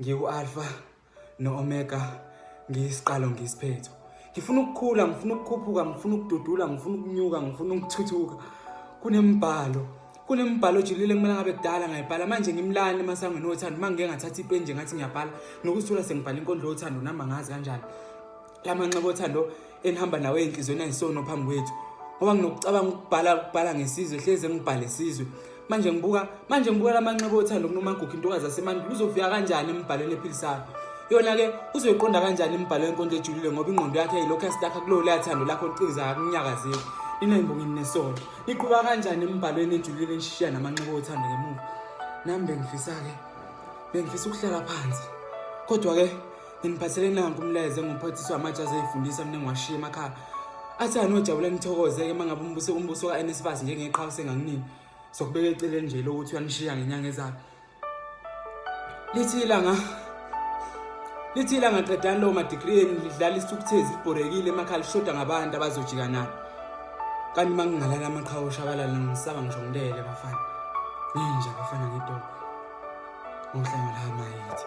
Ngiwu-Alpha no-Omega, ngiyisiqalo ngiyisiphetho. Ngifuna ukukhula, ngifuna ukukhuphuka, ngifuna ukududula, ngifuna ukunyuka, ngifuna ukuthuthuka. Kunembhalo, kunembhalo ojulile kumele ngabe kudala ngayibhala. Manje ngimlani emasangweni othando, uma ngike ngathatha ipeni nje ngathi ngiyabhala. Nokuzithola sengibhala inkondlo yothando nami angazi kanjani. la manxeba othando enihamba nawo ey'nhliziyweni ayisono phambi kwethu ngoba nginokucabanga ukubhala ukubhala ngesizwe hleze ngibhale sizwe manje ngibuka manje ngibuka la manxeba othando kunomagugu intokazi yasemandulo uzofika kanjani emibhalweni ephilisayo yona-ke uzoyiqonda kanjani imibhalo yenkondlo ejulile ngoba ingqondo yakhe yilokhu yasitakha kulowo leyathando lakho liqiza akunyakazeli ninembongini nesono niqhuba kanjani emibhalweni ejulile nishishiya namanxeba othando ngemuva nami bengifisa-ke bengifisa ukuhlala phansi kodwa-ke Nginiphathele nanku umlayezo enguphathiswa amatsha azeyifundisa mina ngiwashiye emakhaya. Athi anojabula nithokoze-ke uma ngabe umbuso umbuso ka-NSFAS njengeqhawe sengakunini. Sokubeka eceleni nje lokuthi uyanishiya ngenyanga ezayo. Lithi ilanga lithi ilanga qedani lawo madigri enu lidlala isithukuthezi libhorekile emakhaya lishoda ngabantu abazojika nabo. Kanti uma ngingalala amaqhawe oshabalala ngisaba ngisho ngilele bafana. Ninja bafana ngedolo. Ngohlanga la mayithi.